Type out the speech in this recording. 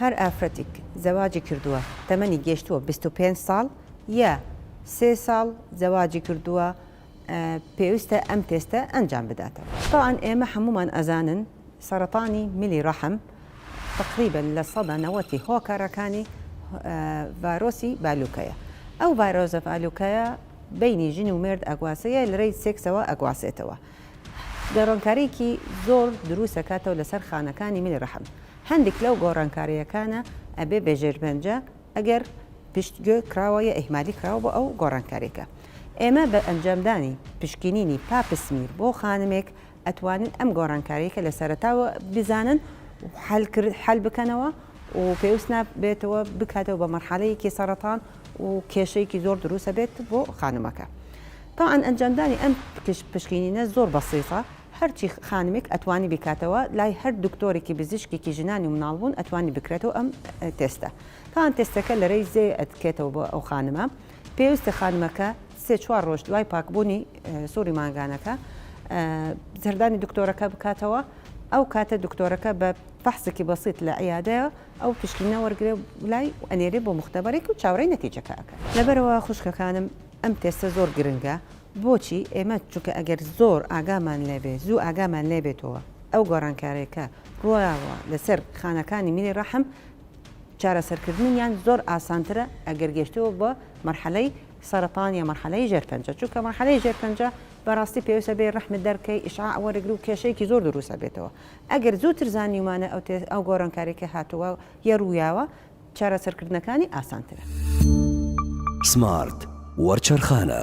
هەر ئافرەتیک زەواجی کردووە تەمەنی گێشتووە بیست و پێنج ساڵ یا سێ ساڵ زەواجی کردووە پێویستە ئەم تێستە ئەنجام بداتەوە. تەوعەن ئێمە حەموومان ئەزانن سەرەتانی ملی ڕەحم تەقریبەن لە سەدا نەوەتی هۆکارەکانی ڤایرۆسی بالوکەیە ئەو ڤایرۆسە بالوکەیە بەینی ژن و مێرد ئەگواسێ یە لەرێی سێکسەوە ئەگواسێتەوە گەڕانکاریکی زۆر درووست ئەکاتەوە لەسەر خانەکانی ملی ڕەحم هەندیک لەو گۆڕانکاریەکانە ئەبێ بێ ژێرپەنجە ئەگەر پشتگوێ کراوە یا ئیهمالی کراوە بۆ ئەو گۆڕانکاریەکە ئێمە بە ئەنجامدانی پشکینینی پاپسمیر بۆ خانمێک ئەتوانن ئەم گۆڕانکاریەکە لە سەرەتاوە بزانن و حەل کرد حەل بکەنەوە و پێویست نابێتەوە بکاتەوە بە مەرحەلەیەکی سەرەتان و کێشەیەکی زۆر دروستە بێت بۆ خانمەکە تاعاان ئەنجامدانی ئەم پشکینینە زۆر بەسیسە هەرچی خانمێک ئەتوانی بیکاتەوە لای هەر دکتۆرێکی بزیشکێکی ژنانی و مناڵبوون ئەتوانی بکرێتەوە ئەم تێستە تان تێستەکە لەرەی زێ ئەتکێتەوە بۆ ئەو خانمە پێویستە خانمەکە سێ چوار ڕۆژ دوای پاکبوونی سووری مانگانەکە زردانی دکتۆرەکە بکاتەوە ئەو کاتە دکتۆرەکە بە فەحسێکی بەسیت لە عیادەیە ئەو پشکینە وەرگێ لای ئەنێرێ بۆ مختبارێک و چاوەڕێی نەتیجەکەکە لەبەرەوە خوشکەکانم ئەم تێستە زۆر گرنگە بۆچی؟ ئێمە چونکە ئەگەر زۆر ئاگامان لێبێ، زوو ئاگامان لێبێتەوە، ئەو گۆڕانکارەی کە ڕوویاوە لەسەر خانەکانی میلی ڕەحم، چارەسەرکردنیان زۆر ئاسانترە ئەگەر گەیشتووە بە مەرحەلەی سەرەتان یا مەرحەلەی ژێرپەنجە، چونکە مەرحەلەی ژێرپەنجە بەڕاستی پێویست ئەبێ ڕەحمت دەربکەی، ئیشعاع وەرگری و کێشەیەکی زۆر دروست ئەبێتەوە. ئەگەر زووتر زانیومانە ئەو گۆڕانکارەی کە هاتووە یا ڕوویاوە، چارەسەرکردنەکانی ئاسانترە. سمارت وەرچەرخانە.